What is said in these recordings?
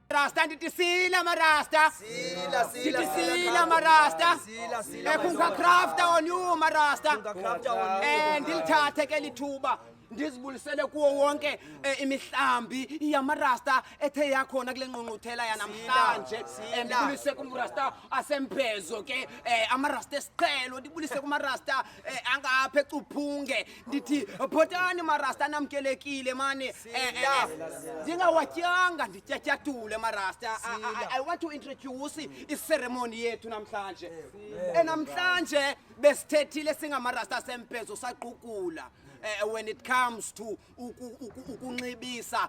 Rasta ndithi sila marasta Sila, sila, ndithi sila, sila Krafta. marasta Sila, sila, ekhunka marasta. crafta on you marasta Krafta on you, eh ndilithathe ke lithuba ndizibulisele kuwo wonke eh, imihlambi yamarasta ethe yakhona kule nqunquthela yanamhlanje sila. Eh, ndibulise kumrasta asemphezo ke eh, amarasta esiqhelo ndibulise kumarasta eh, angapha ecuphunge ndithi photani marasta namkelekile mani eh, eh, eh. ndingawatyanga ndityatyatule marasta I- I- Sila. i want to introduce iceremony yethu namhlanje enamhlanje besithethile singamarasta sempezo saqukula eh, when it comes to uku- uku- ukunxibisa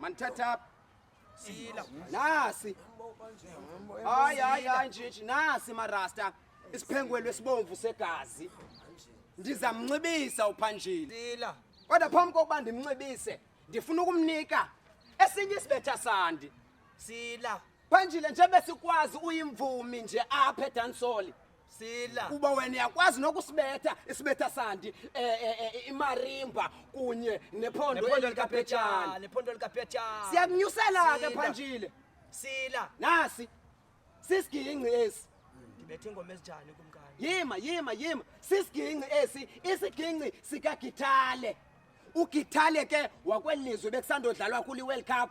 Manithatha apha. Sila. Nasi. Hayi hayi hayi nje nje nasi marasta. Isiphengwelo esibomvu segazi. Ndizamnxibisa uphanjini. Sila. Kodwa phambi kokuba ndimnxibise, ndifuna ukumnika esinye isibetha sandi. Sila. Phanjile nje besikwazi uyimvumi nje apha edansoli. sila kuba wena uyakwazi nokusibetha isibetha sandi eh, eh, eh, imarimba kunye nephondo likaphetshana nephondo likaphetshana siyakunyusela ke phanjile sila nasi sisiginci esi ndibethe ingoma ezinjani kumkani yima yima yima sisiginci esi isiginci sikagithale ugithale ke wakwelizwe bekusandodlalwa kuli world cup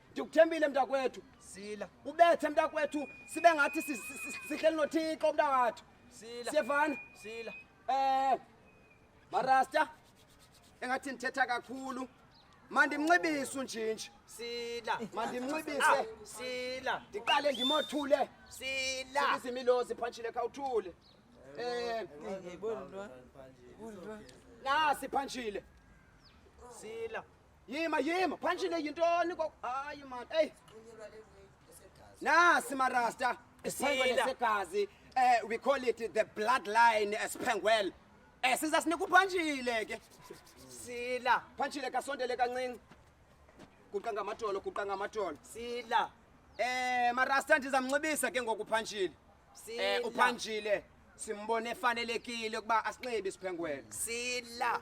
Ndikuthembile mntakwethu. Sila. Ubethe mntakwethu sibe ngathi sihleli noThixo mntakwethu. Sila. Siyevana? Sila. Eh Marasta engathi ndithetha kakhulu. Mandimncibise unjinji. Sila. Mandimncibise. Ah, sila. Ndiqale ndimothule. Sila. Izimilozi phantshile khawuthule. Eh ngibona. Nasi phantshile. Sila. Yima yima, punch le yintoni ko? Hayi man, hey. Na simarasta, isiyile segazi. Eh we call it the bloodline esphengwel. Eh siza sinika uphantshile ke. Sila, phantshile kasondele kancinci. Guqa ngamadolo, guqa ngamadolo. Sila. Eh marasta ndizamnxibisa ke ngoku phantshile. Eh Sila. uphantshile simbone efanelekile ukuba asinxibe isiphengwele. Sila.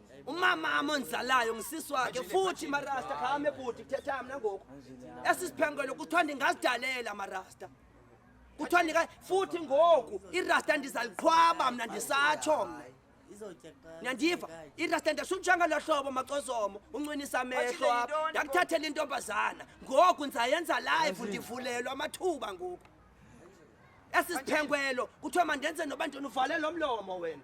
umama amonzalayo ngisisi wakhe futhi marasta khame bhuti kuthetha mna ngoku esi siphengelo kuthiwa ndingazidalela marasta kuthiwa ndika futhi ngoku irasta ndizaliqhwaba mna ndisatsho mna nyandiva irasta ndasutshanga lo hlobo macozomo uncinisa amehlo apha ndakuthathela intombazana ngoku ndizayenza live ndivulelwa amathuba ngoku esi siphengwelo kuthiwa mandenze noba ndinivalelo mlomo wena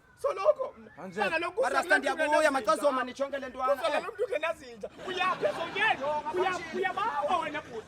soloko sana lokhu mara stand yabo uya macazo mani chonke lento wana kusala eh. lomntu kenazinja uyaphe zonyeni uyabawa wena bhuti